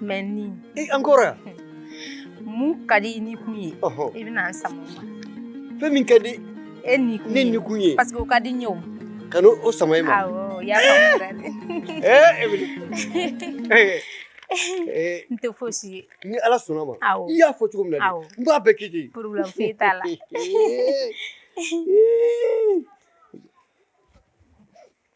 Mais ni e encore mun ka di i ni kun ye i bɛna an sama fɛn min ka di e ni ne ni kun ye parce que ka di ɲɛ ka o sama e ma n tɛ fosi ye ni ala sɔnna ma i y'a fɔ cogo min na n b'a bɛɛ kɛ ten problème t'a la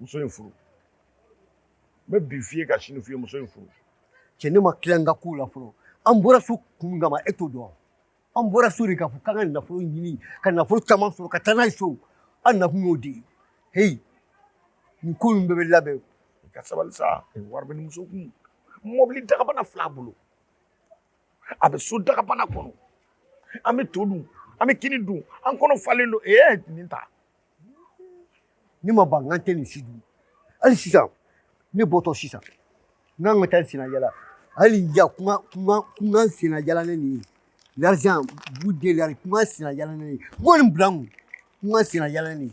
muso in furu n bɛ bi f'i ye ka sini f'i ye muso in furu cɛ ne ma tila n ka kow la fɔlɔ an bɔra so kun kama e t'o dɔn an bɔra so de k'a fɔ k'an ka nafolo ɲini ka nafolo caman sɔrɔ ka taa n'a ye so an nakun y'o de ye heyi nin ko in bɛɛ bɛ labɛn i ka sabali sa wari bɛ nin muso kun mɔbili dagabana fila bolo a bɛ so dagabana kɔnɔ an bɛ to dun an bɛ kini dun an kɔnɔ falen don ee nin ta ne ma ban k'an tɛ nin si dun hali sisan ne bɔtɔ sisan n ka taa n senna yaala hali yan ko ko n ka n senna yaala ne nin l'argent vous délargez ko n ka n senna yaala ne nin kuma nin bila n kun ko n ka n senna yaala ne nin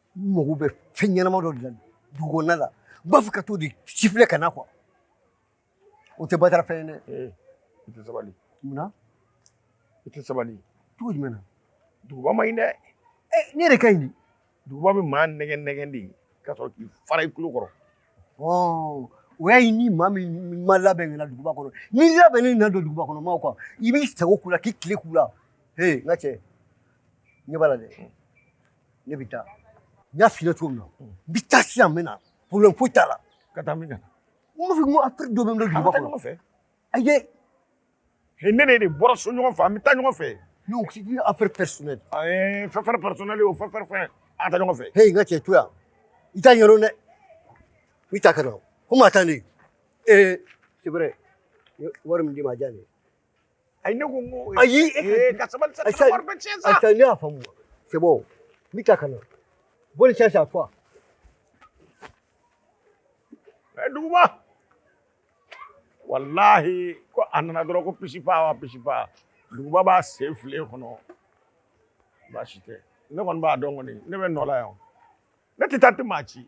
n mago bɛ fɛn ɲɛnama dɔ de la dugu kɔnɔna la n b'a fɛ ka t'o de sifilɛ ka na quoi o tɛ batara fɛn ye dɛ i tɛ sabali munna i tɛ sabali cogo jumɛn na duguba man ɲi dɛ ne yɛrɛ ka ɲi di duguba bɛ maa nɛgɛ nɛgɛ de ka sɔrɔ k'i fara i tulo kɔrɔ i y'a ye ni maa min ma labɛn ka na duguba kɔnɔ n'i labɛnnen na don duguba kɔnɔ maaw kan i b'i sago k'u la k'i tile k'u la he n ka cɛ ɲɛ b'a la dɛ ne bɛ taa n y'a f'i ye cogo min na n bɛ taa sisan n bɛ na problème foyi t'a la ka taa min ka na n b'a fɔ ko affaire dɔ bɛ n bolo duguba kɔnɔ ɲɔgɔn fɛ ayi e ni ne de bɔra so ɲɔgɔn fɛ an bɛ taa ɲɔgɔn fɛ non c'est une affaire personnelle ayi fɛn fɛn personnelle o fɛn fɛn fɛn an ka taa ɲɔgɔn fɛ he n ka cɛ to yan i t'a ɲɛdɔn dɛ i t'a kɛ dɔn ko maa taa ne ee c'est vrai wari min d'i ma a di yan ne ye ayi ne ko n ko ayi ee ka sabali sa ka wari bɛ tiɲɛ sa ayisa ne y'a faamu c'est bon n bɛ taa ka na bonne chance à toi ɛ duguba walahi ko a nana dɔrɔn ko pisipa wa pisipa duguba b'a sen file kɔnɔ baasi tɛ ne kɔni b'a dɔn kɔni ne bɛ n nɔ la yan ne tɛ taa tɛ maa ci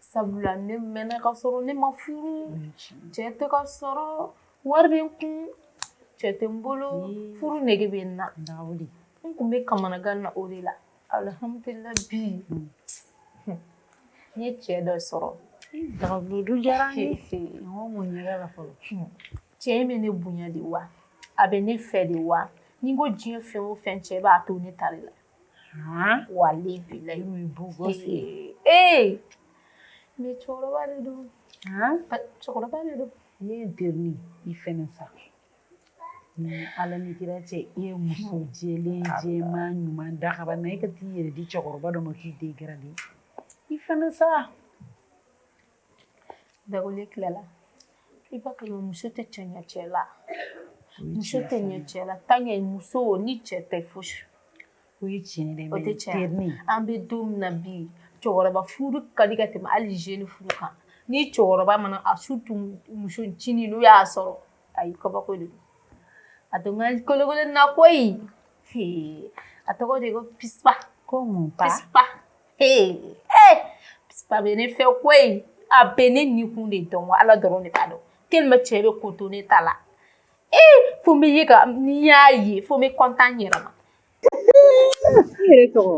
sabula ne mɛnna ka sɔrɔ ne ma furu cɛ tɛ ka sɔrɔ wari bɛ n kun cɛ tɛ n bolo furu nege bɛ n na n tun bɛ kamanagan na o de la alihamudulila bi n ye cɛ dɔ sɔrɔ dagabudu diyara n ye n ko mun yɛrɛ la fɔlɔ cɛ in bɛ ne bonya de wa a bɛ ne fɛ de wa ni n ko diɲɛ fɛn o fɛn cɛ b'a to ne ta la wale mi cɛkɔrɔba de don cɛkɔrɔba de don ne y'i deli i fɛnɛ sa ni ala ni kira cɛ i ye muso jɛlen jɛman ɲuman dakabana i ka t'i yɛrɛ di cɛkɔrɔba dɔ ma k'i dégrader i fɛnɛ sa Dagawuli tilala i ba muso tɛ tiɲɛ cɛ la muso tɛ ɲɛ cɛ la tan ye muso ni cɛ tɛ fosi o ye tiɲɛ o tɛ cɛ an bɛ don min na bi cɛkɔrɔba furu ka di ka tɛmɛ hali jeune furu kan ni cɛkɔrɔba mana a su tun musocinin n'o y'a sɔrɔ a ye kabako de a dɔn kolokolo na ko a tɔgɔ de ko Pisiba bɛ ne fɛ quoi a bɛ ne ni kun de dɔn ala dɔrɔn de b'a dɔn te cɛ bɛ ko to ne ta la e ko n bɛ ye ka n'i y'a ye fo n bɛ kɔntan yɛrɛ ma tɔgɔ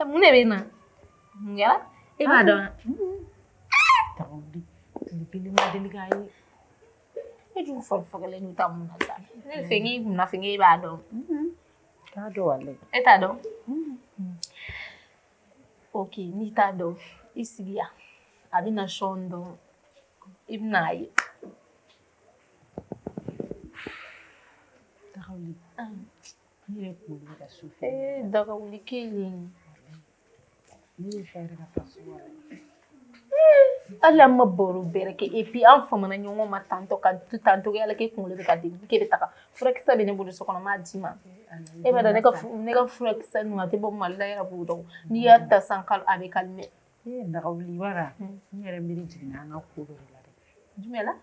mun de bɛ na mun kɛra e b'a dɔn wa deli k'a ye e dun fagalen don ta mun na sa ne fɛ k'i kunna fɛ k'e b'a dɔn t'a dɔn wale e t'a dɔn ok n'i t'a dɔn i sigi yan a bɛna sɔn dɔn i bɛna a ye Ne ye kunkolo bɛ ka su fɛ. Ee Dagawuli k'i ye. Ne ye fa yɛrɛ ka fa su la. Hali an ma baro bɛrɛ kɛ et puis an famana ɲɔgɔn ma tantɔ ka to tan togo yala k'e kunkolo bɛ ka dimi k'e bɛ taga furakisɛ bɛ ne bolo so kɔnɔ n b'a d'i ma. E b'a dɔn ne ka ne ka furakisɛ ninnu a tɛ bɔ Mali la i yɛrɛ b'o dɔn n'i y'a ta siɲɛ kelen a bɛ calmer. Ee Dagawuli i b'a dɔn wa n yɛrɛ miiri jiginna n ka ko dɔ de la dɛ. Jumɛn na?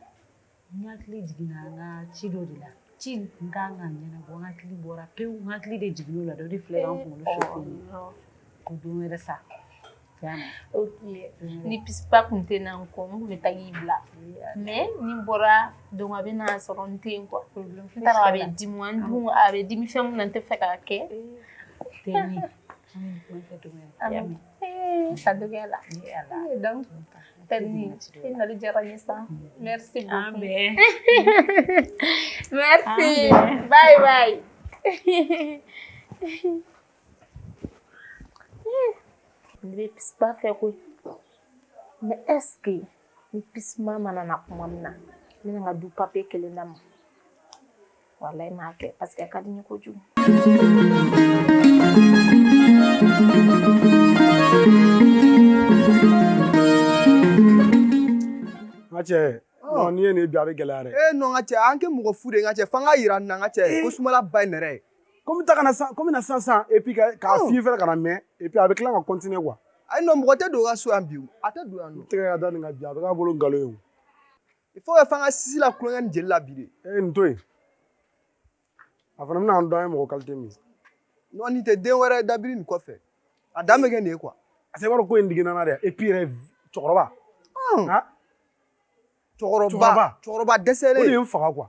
N hakili jiginna n ka ci dɔ de la ci tun ka kan ka ɲɛnabɔ n hakili bɔra pewu n hakili de jiginn'o la dɔ de filɛ an kunkolo sufɛ ko don wɛrɛ sa ni pisiba tun tɛ na n kɔ n tun bɛ taa y'i bila mais ni n bɔra donc a bɛna a sɔrɔ n tɛ yen quoi n t'a dɔn a bɛ dimi wa n dun a bɛ dimi fɛn min na n tɛ fɛ k'a kɛ. Sadogo la nali diyara n ye sa mɛsi an bɛ mɛsi bayi bayi n bɛ pisiba fɛ quoi mais est-ce que ni pisiba mana na tuma min na ne ka du papi kelen na ma Walayi n b'a kɛ parce que a ka di n ye kojugu. N ka cɛ, ɔɔ n'i ye nin ye bi a bɛ gɛlɛya dɛ. Ee non n ka cɛ an kɛ mɔgɔ fu de ye n ka cɛ fo an k'a jira nin na n ka cɛ ko sumala ba ye nɛrɛ ye. Ko n bɛ taa ka na sisan, ko n bɛ na sisan sisan et puis k'a k'a f'i ye fana kana mɛn et puis a bɛ tila ka continuer quoi. Ayi non mɔgɔ tɛ don n ka so yan bi o, a tɛ don yan nɔ. N tɛgɛ ka da nin kan bi a bɛ k'a bolo nkalon ye o. il faut que f'an ka sisi la kulonkɛ ni jeli la bi de ee nin to yen a fana bɛna a dɔn an ye mɔgɔ kalite min non nin tɛ den wɛrɛ dabiri nin kɔfɛ a dan bɛ kɛ nin ye quoi a se b'a dɔn ko a diginna n na dɛ et puis yɛrɛ cɛkɔrɔba cɛkɔrɔba cɛkɔrɔba dɛsɛlen o de ye n faga quoi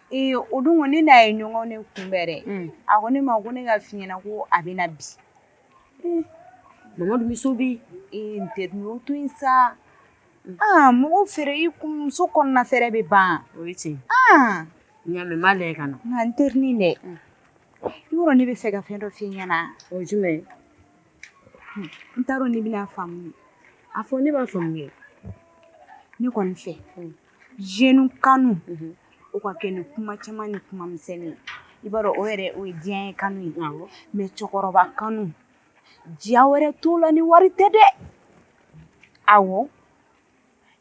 Ee o don ne n'a ye ɲɔgɔn de kunbɛn yɛrɛ a ko ne ma ko ne k'a f'i ɲɛna ko a bɛ na bi mɔgɔmuso bɛ to in sa aa mɔgɔ fɛ i kɔɲɔmuso kɔnɔna fɛ bɛ ban o cɛ ɲa le ka na nka n teri dɛ yɔrɔ ne b'a fɛ ka fɛn dɔ f'i ɲɛna o jumɛn n t'a dɔn n'i bɛna a faamu a fɔ ne b'a faamuya ne kɔni fɛ jeunes kanu o ka kɛ ni kuma caman ni kuma misɛnnin ye i b'a dɔn o yɛrɛ o ye diyanye kanu ye mais cɛkɔrɔba kanu diya wɛrɛ t'o la ni wari tɛ dɛ awɔ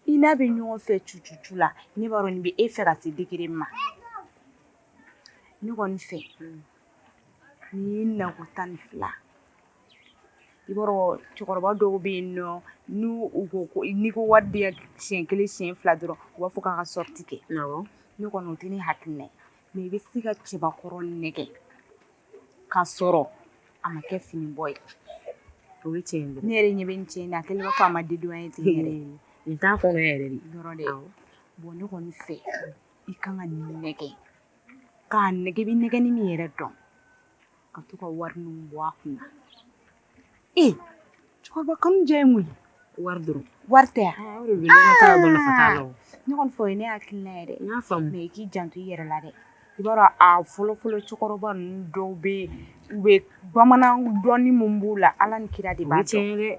i n'a bɛ ɲɔgɔn fɛ cucucu la ne b'a dɔn nin bɛ e fɛ ka se degré min ma ne kɔni fɛ N'i ye nakɔ tan ni fila i cɛkɔrɔba dɔw bɛ yen nɔ n ko n'i ko wari di yan siyɛn kelen siyɛn fila dɔrɔn u b'a fɔ k'an ka sortie kɛ ne kɔni tɛ ne hakili na i bɛ se ka cɛbakɔrɔ nɛgɛn ka sɔrɔ a ma kɛ fini bɔ ye o ye cɛ ne yɛrɛ ɲɛ bɛ n cɛ na kelen fa ma di ye tɛ n' kɔnɔ yɛrɛ de bɔn ne kɔni fɛ i ka kan ka nin nɛgɛn k'a nɛgɛn i bɛ nɛgɛnni min yɛrɛ dɔn ka to ka wari ninnu bɔ a kun na ee cɛkɔrɔba kanu diya ye mun ye wari dɔrɔn wari tɛ yan ne kɔni fɛ ne hakili la yɛrɛ n y'a faamu mais i k'i janto i yɛrɛ la dɛ i b'a dɔn a fɔlɔ fɔlɔ cɛkɔrɔba ninnu dɔw bɛ yen u bɛ bamanan dɔnni min b'u la ala ni kira de b'a dɔn o ye tiɲɛ ye dɛ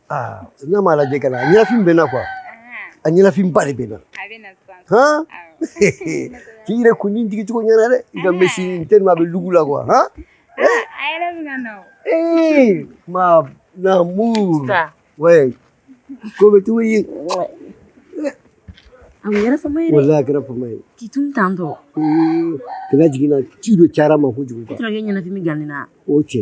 aa n'a m'a lajɛ ka na a ɲɛnafin bɛ n na quoi a ɲɛnafinba de bɛ n na han k'i yɛrɛ kun nin digi cogo ɲɛna dɛ i ka mèche n tɛ a bɛ look la quoi han ee ma namu wɛ ko bɛ cogo ye a yɛrɛ fama ye wala a kɛra fama ye k'i tun tan tɔ kana jiginna ci dɔ cayara ma kojugu kan ɲɛnafin bɛ ganni na o cɛ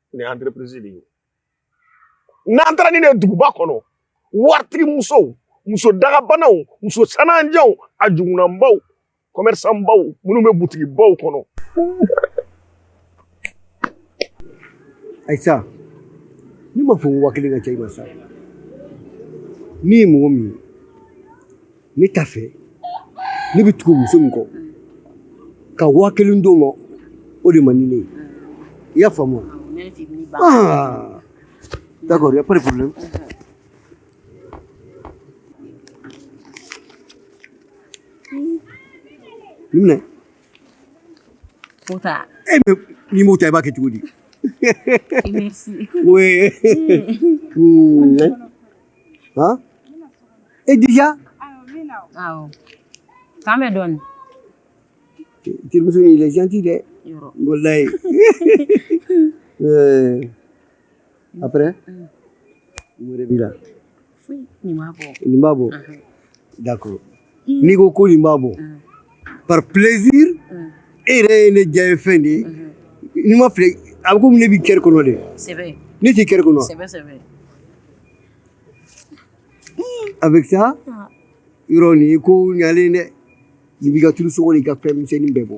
ni entreprise de ye n'an taara ni ne duguba kɔnɔ waritigi musow muso dagabanaw muso sananjanw a jukunanbaw kɔmɛrisanbaw minnu bɛ butigibaw kɔnɔ ayisa ne ma fɔ ko waa kelen ka ca i ma sa min ye mɔgɔ min ye ne t'a fɛ ne bɛ tugu muso min kɔ ka waa kelen d'o ma o de man di ne ye i y'a faamu ah d'accord il y a pas de problème nin minɛ e bɛ n'i m'o ta i b'a kɛ cogo di oui han e déjà k'an bɛ dɔɔnin terimuso in il est gentil dɛ walayi euh, après wɛrɛ b'i la nin b'a bɔ d'accord n'i ko ko nin b'a bɔ par plaisir e yɛrɛ ye ne diyanyefɛn de ye n'i m'a filɛ a bɛ komi ne b'i cœur kɔnɔ de ne t'i cœur kɔnɔ avec ça yɔrɔ nin ko ɲalen dɛ nin b'i ka tulu sɔngɔ n'i ka fɛn misɛnnin bɛɛ bɔ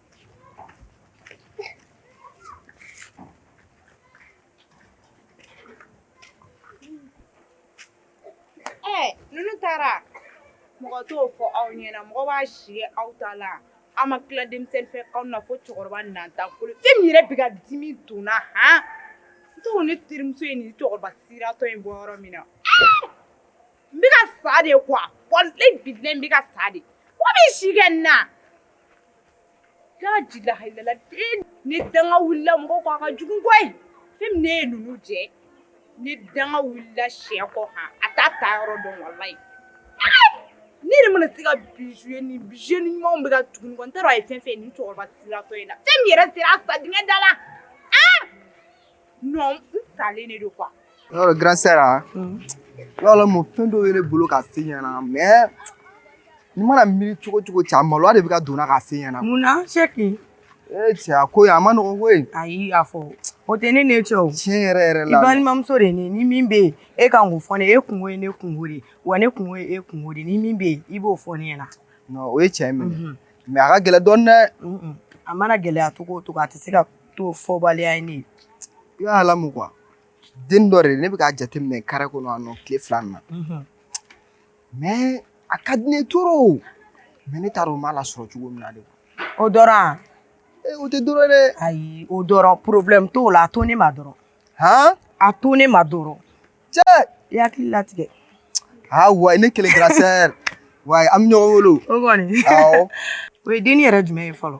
ninnu taara mɔgɔ t'o fɔ aw ɲɛna mɔgɔ b'a sigi aw ta la aw ma tila denmisɛnnin fɛ aw na fo cɛkɔrɔba nanta kolo fɛn min yɛrɛ bɛ ka dimi don n na han n t'o ne terimuso ye nin cɛkɔrɔba siratɔ in bɔ yɔrɔ min na n bɛ ka sa de quoi walayi bilayi n bɛ ka sa de wa bɛ si kɛ n na Lahayilala den ne danga wulila mago ko a ka jugu koyi fi ne ye numu jɛ ne danga wulila si kɔ a t'a taayɔrɔ dɔn walayi ne de mana se ka bi ni bi ni ɲumanw bɛ ka tugu n kɔ n taara a ye fɛn fɛ ni cɛkɔrɔba siratɔ in la fɛn yɛrɛ sera sa dingɛ da la non n talen de don quoi yɔrɔ dɔn grande sœur an yɔrɔ la mɔ fɛn dɔw ye ne bolo ka f'e ɲɛna mais ni n mana miiri cogo cogo cɛ a maloya de bɛ ka don n na ka f'e ɲɛna mun na c'est que ee cɛ a ko ye a man nɔgɔn koyi ayi a fɔ o tɛ e ni ne cɛ o tiɲɛ yɛrɛ yɛrɛ la i balimamuso de ne ni min bɛ yen e kan k'o fɔ ne e kunko ye ne kunko de wa ne kunko ye e kunko de ni min bɛ yen i b'o fɔ ne ɲɛna non o ye tiɲɛ minɛ mais a ka gɛlɛn dɔɔnin dɛ a mana gɛlɛya cogo o cogo a tɛ se ka To fɔbali ye ne i b'a alamu ka den dɔ de ne bɛ k'a jateminɛ kare kɔnɔ a tile fila na mɛ a ka di ne ye trop mɛ ne taara u b'a la sɔrɔ cogo min na de o dɔn o tɛ dɔrɔn ayi o problème t'a la a to ne ma dɔrɔn a to ne ma dɔrɔn cɛ i hakili latigɛ aa wa ne kelen kɛra sɛ wa an bɛ ɲɔgɔn bolo o ye den yɛrɛ jumɛn ye fɔlɔ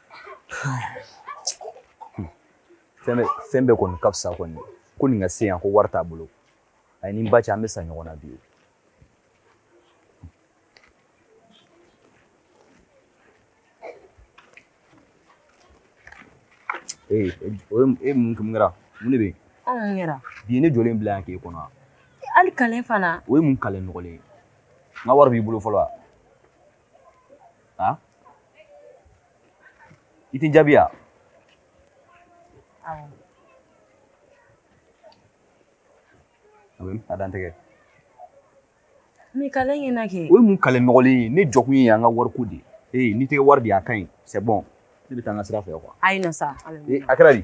fɛn bɛ fɛn bɛɛ kɔni ka fisa kɔni ko nin ka se yan ko wari t'a bolo a ye ni n ba cɛ an bɛ sa ɲɔgɔn na bi ee e mun kun kɛra mun de bɛ yen anw mun kɛra bi ne jɔlen bila yan k'e kɔnɔ wa hali kalen fana o ye mun kalen nɔgɔlen ye n ka wari b'i bolo fɔlɔ wa Aa i tɛ n jaabi yan a dantigɛ o ye mun kale nɔgɔlen ye ne jɔkun ye an ka wari ko de ye n'i tɛ wari di a ka ɲi c'est bon ne bɛ taa n ka sira fɛ kuwa a kɛra di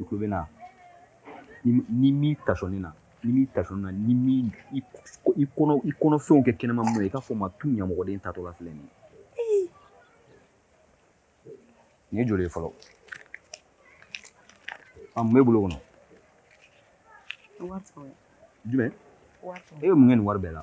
i tulo bɛ n na ni min tasɔni na ni min tasɔni na ni min i kɔnɔ i kɔnɔfɛnw kɛ kɛnɛma mun ye i k'a fɔ n ma tun ɲamɔgɔden tatɔ la filɛ nin ye nin ye joli ye fɔlɔ a mun b'e bolo kɔnɔ jumɛn e bɛ mun kɛ nin wari bɛɛ la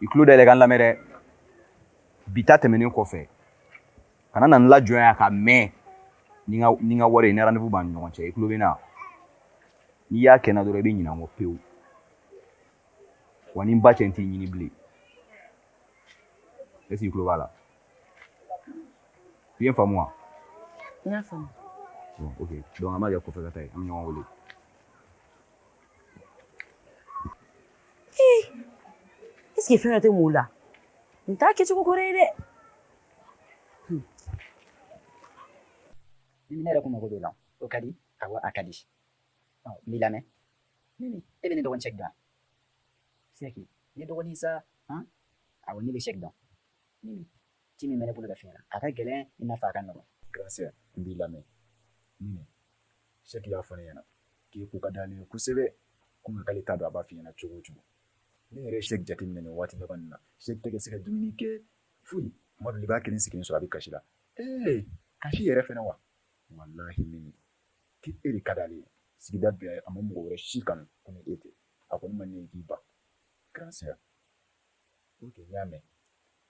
i tulo dayɛlɛ ka n lamɛn dɛ bi ta tɛmɛnen kɔfɛ kana na n lajɔ yan ka mɛn ni ka ni ka wari ye ni rendez-vous b'an ni ɲɔgɔn cɛ i tulo bɛ n na n'i y'a kɛ n na dɔrɔn i bɛ ɲinɛ n kɔ pewu wa ni n ba cɛ n t'i ɲini bilen est-ce que i tulo b'a la i ye n faamu wa. n y'a faamu. bon ok donc an b'a kɛ kɔfɛ ka ta ye an bɛ ɲɔgɔn wele. ee ɛseke fɛn dɔ tɛ mɔɔ la nin t'a kɛcogo kɔrɔ ye dɛ ne yɛrɛ kun mago b'o la o ka di awɔ a ka di ɔ n b'i lamɛn e bɛ ne dɔgɔnin sɛki dɔn sɛki ne dɔgɔnin sa han awɔ ne bɛ sɛki dɔn ci min bɛ ne bolo ka f'i ɲɛna a ka gɛlɛn i n'a fɔ a ka nɔgɔn gracia n b'i lamɛn Sɛ y'a fɔ n ɲɛna k'i k'i ka d'ale ye kosɛbɛ kɔmi k'ale t'a dɔn a b'a fɔ i ɲɛna cogo cogo ne yɛrɛ ye sɛ jate minɛ nin waati laban na sɛ tɛ ka se ka dumuni kɛ foyi mɔbili b'a kelen sigilen sɔrɔ a bɛ kasi la ee kasi yɛrɛ fana wa walahi min k'i e de ka di ale sigida bila a ma mɔgɔ wɛrɛ si kan ko e tɛ a ko ne ma ne k'i ba kɛra sera o y'a mɛn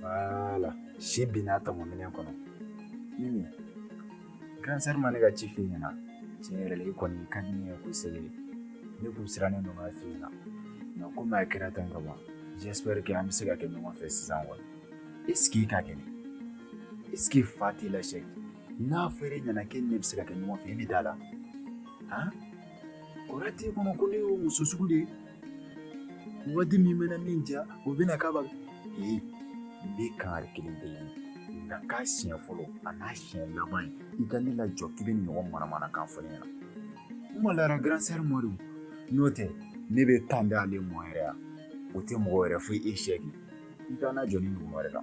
Voilà. Si binna tɔmɔ minɛn kɔnɔ. Mimi, grand sœur ma ne ka ci f'i ɲɛna. Tiɲɛ yɛrɛ la, i kɔni i ka di ne ye kosɛbɛ. Ne kun sirannen don k'a f'i ɲɛna. Nka komi a kɛra tan ka ban, j'espère que an bɛ se ka kɛ ɲɔgɔn fɛ sisan kɔni. Est ce que i ka kɛnɛ? Est ce que fa t'i la sɛ? N'a fɔra e ɲɛna k'e ni ne bɛ se ka kɛ ɲɔgɔn fɛ, i bɛ d'a la? Han? O yɛrɛ b'i kɔnɔ ko ne y'o muso sugu de ye? waati min mana min ja o bɛna k'a ba ee n bɛ kangari kelen d'e ye nin ka k'a siɲɛ fɔlɔ an'a siɲɛ laban ye i ka ne lajɔ k'i bɛ ɲɔgɔn manamanakan fɔ ne ɲɛna n malola grand sœur ma de n'o tɛ ne bɛ tan da ale mɔ yɛrɛ yan o tɛ mɔgɔ wɛrɛ fo e sɛki i kana jɔ nin ɲɔgɔn wɛrɛ la